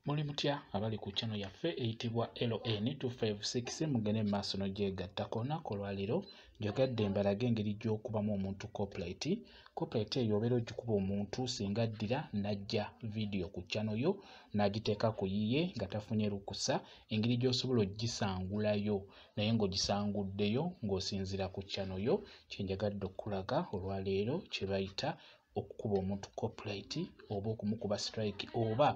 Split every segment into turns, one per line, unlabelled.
muli mutya abali ku channel yaffe eyitibwa ln 256 mugende mu maaso nogyegatta ku lunaku olwaleero njogadde mbalaga engeri gy'okubamu omuntu coplet coplet eyo obeera ogikuba omuntu singa addira najja vidiyo ku channel yo n'agiteeka ku yiye nga tafunye lukusa engeri gy'osobola ogisangulayo naye ng'ogisanguddeyo ng'osinziira ku channel yo kyenjagadde okukulaga olwaleero kye bayita okukuba omuntu copyright oba okumukuba strike oba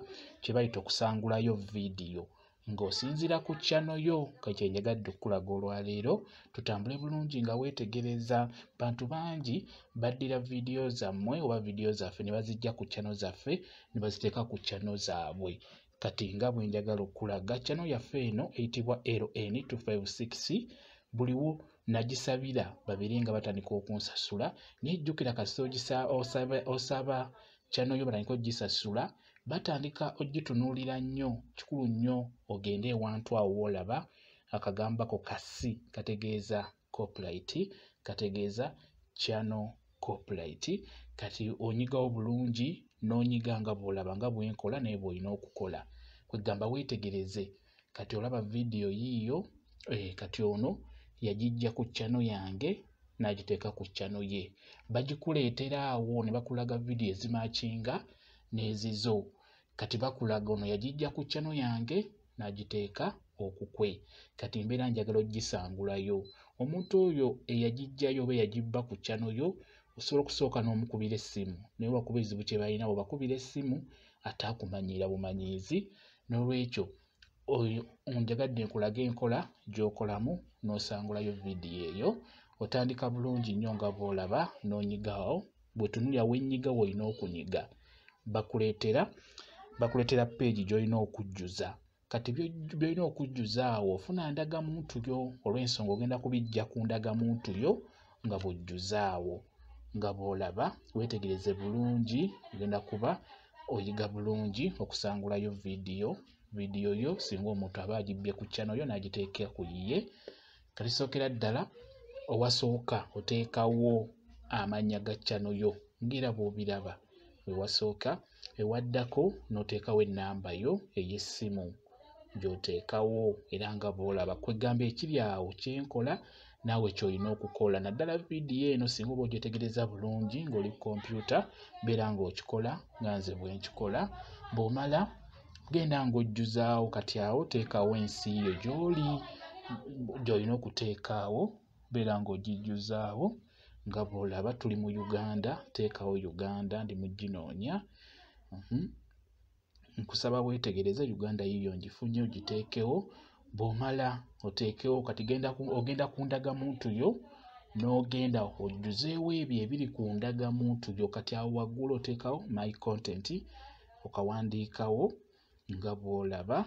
kye bayita okusangulayo vidiyo ng'osinziira ku kyano yo kekye njagadde okukulaga olwaleero tutambule bulungi nga weetegereza bantu bangi baddira vidiyo zammwe oba vidiyo zaffe ne bazijja ku kyano zaffe ne baziteeka ku kyano zaabwe kati nga bwe njagala okulaga kyano yaffe eno eyitibwa ln 256 buliwo nagisabira babeere nga batandika okunsasula naye jjukira kasita osaba kyano yo batandika ogisasula batandika ogitunuulira nnyo kikulu nnyo ogende ewantu awo woolaba akagambako kasi kategeeza copyright kategeeza channel copyright kati onyigawo bulungi n'onyiga nga bw'olaba nga bwenkola naye bw'olina okukola kwegamba weetegereze kati olaba vidiyo yiiyo eh, kati ono yagijja ku chano yange n'agiteeka ku chano ye bagikuleetera awo ne bakulaga vidiyo ezimakinga n'ezizo kati bakulaga ono yagijja ku chano yange n'agiteeka okukwe kati mbeera njagala ogisangulayo omuntu oyo eyagijjayo oba eyagibba ku chano yo osobola okusooka n'omukubira essimu naye wakuba ezibu kye balina webakubira essimu ate akumanyiira bumanyiizi n'olwekyo oyo onjagadde nkulage enkola gy'okolamu n'osangulayo vidiyo eyo otandika bulungi nnyo nga bw'olaba n'onyigawo bwetunulira wenyiga woolina okunyiga bakuleetera bakuleetera peegi gy'olina okujjuza kati byolina okujjuza awo ofuna ndagamuntu yo olw'ensonga ogenda kubijja ku ndagamuntu yo nga bw'ojjuza awo nga bw'olaba weetegereze bulungi ogenda kuba oyiga bulungi okusangulayo vidiyo vidiyo yo singa omuntu aba agibbye ku kyano yo n'agiteeka ku yiye katisookera ddala owasooka oteekawo amannya ga kyano yo ng'era bw'obiraba we wasooka ewaddako n'oteekawo ennamba yo ey'essimu gy'oteekawo era nga bw'olaba kwegamba ekiri awo kyenkola naawe kyolina okukola naddala vidiyo eno singa oba ogyetegereza bulungi ng'oli ku kompyuta beera ng'okikola nga nze bwenkikola bw'omala genda ng'ojjuzaawo kati awo teekawo ensi yo gy'oli gy'olina okuteekaawo beera ng'ogijjuzaawo nga bw'olaba tuli mu uganda teekawo uganda ndi muginoonya mhm. nkusaba weetegereze uganda yiyo ngifunye ogiteekewo bw'omala oteekewo kati ogenda ku ndagamuntu yo n'ogenda ojjuzeewo ebyo ebiri ku ndagamuntu yo kati awo waggulu oteekawo my content okawandiikawo nga bw'olaba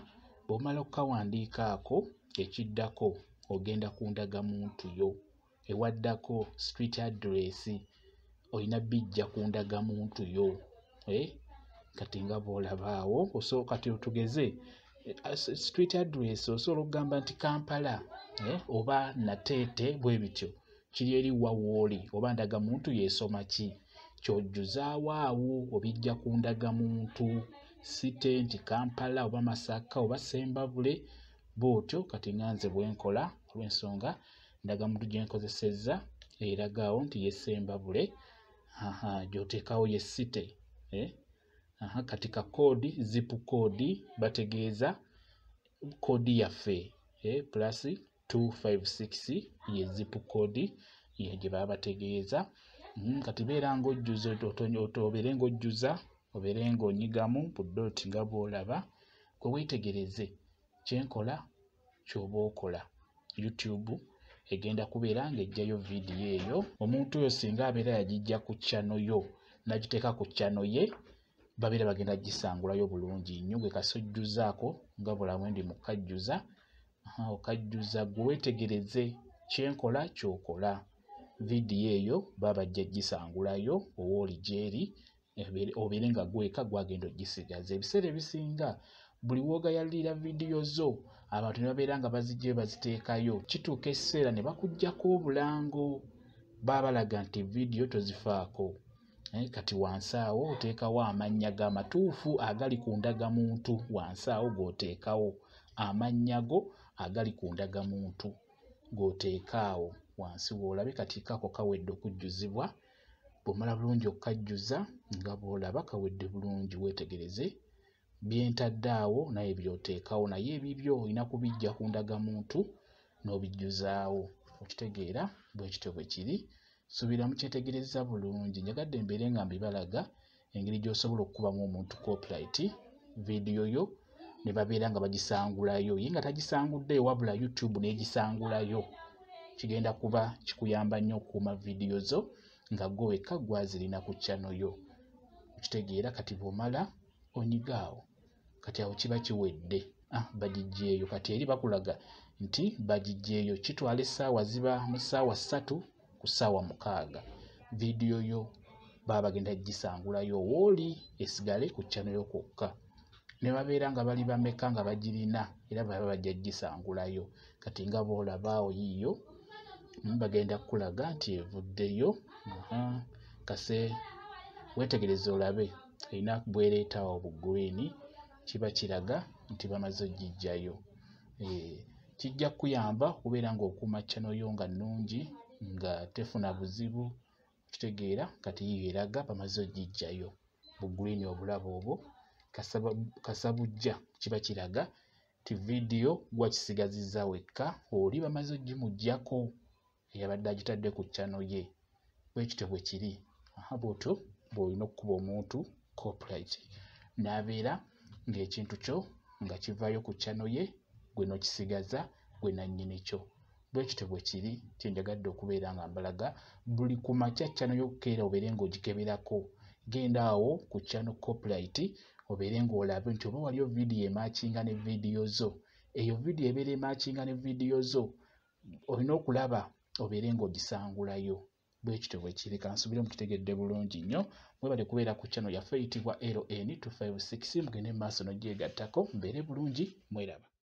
bw'omala okukawandiika ako ekiddako ogenda ku ndagamuntu yo ewaddako street address olina bijja ku ndagamuntu yo eh? kati nga bw'olaba awo osooka kati otugeze street address osobola okugamba nti kampala eh, oba nateete bwe bityo kiri eri wa wooli oba ndagamuntu yeesoma ki kyojjuzaawo awo obijja ku ndagamuntu site nti kampala oba masaka oba sembabule bwotyo kati nga nze bwenkola olwensonga ndagamuntu gye nkozesezza eragaawo nti yesembabule gyoteekawo ye site eh? kati ka koodi zipu koodi bategeeza koodi yaffe eh? plus 256 ye zip code ye gye baba bategeeza mm, kati beera ng'ojjuza obeere ng'ojjuza obeere ng'onyigamu budoti nga bw'olaba kwe weetegereze kyenkola kyoba okola youtube egenda kubeera ng'ejjayo vidiyo eyo omuntu oyo singa abeera yagijja ku chano yo nagiteeka ku chano ye babeera bagenda gisangulayo bulungi nnyo gwe kasojjuzaako nga bulamu ndi mukajjuza okajjuza gwe wetegereze kyenkola kyokola vidiyo eyo baba ajja gisangulayo owa oli gyeri obeere nga gweka gwagenda ogisigaza ebiseera ebisinga buli wogayalira vidiyo zo abantu ne babeera nga bazijjayo baziteekayo kituuka ekiseera ne bakugjako obulango baba balaga nti vidiyo tozifaako eh, kati wansi awo oteekawo amannya go amatuufu agali ku ndagamuntu wansi awo g'oteekawo amannya go agali ku ndagamuntu g'oteeka awo wansi w'olabe kati kako kawedde okujjuzibwa bw'omala bulungi okukajjuza nga bw'olaba kawedde bulungi weetegereze byentadde awo naye byoteekawo naye ebibyo olina kubijja ku ndagamuntu n'obijjuzaawo okitegeera bwe kityo bwe kiri subira mukyetegerezza bulungi njagadde mbeere nga mbibalaga engeri gy'osobola okukubamu omuntu copyright vidiyo yo ne babeera nga bagisangulayo ye nga tagisangudde wabula youtube n'egisangulayo kigenda kuba kikuyamba nnyo okukuuma vidiyo zo nga gwe wekka gwazirina ku chano yo okitegeera kati bw'omala onyiga awo kati awo kiba kiwedde ah, bagijjeeyo kati eri bakulaga nti bagijjeeyo kitwala essaawa ziba mu ssaawa ssatu ku ssaawa mukaaga vidiyo yo baba bagenda gisangulayo wooli esigale ku kyano yo kwokka ne babeera nga bali bameka nga bagirina era baba bajja gisangulayo kati nga boolabaawo yiiyo mm, bagenda kukulaga nti evuddeyo kase wetegereze olabe erina bwereeta awo bu green kiba kiraga nti bamaze ogijjayo eh, kijja kukuyamba okubeera ng'okuuma channel yo nga nnungi nga tefuna buzibu kitegeera kati yiyo eraga bamaze ogijjayo bu green obulabo obwo kasabujja kiba kiraga nti vidiyo gwakisigaziza wekka oli bamaze ogimujjako eyabadde agitadde ku ccano ye bwe kityo bwe kiri aha bwotyo bw'olina okukuba omuntu copyright n'abeera ng'ekintu kyo nga kivaayo ku ccano ye gwe n'okisigaza gwe nannyini kyo bwe kityo bwe kiri kye njagadde okubeera nga mbalaga buli ku makya ccano y'okukeera obeere ng'ogikeberako genda awo ku ccano copyright obeere ng'olabe nti oba waliyo vidiyo emakinga ne vidiyo zo eyo vidiyo ebeera emakinga ne vidiyo zo olina okulaba obeere ng'ogisangulayo bwe kityo bwe kiri kansubire mukitegedde bulungi nnyo mwebale kubeera ku channel yaffe eyitibwa ln 256 mugende mu maaso n'ogyegattako mbeere bulungi mweraba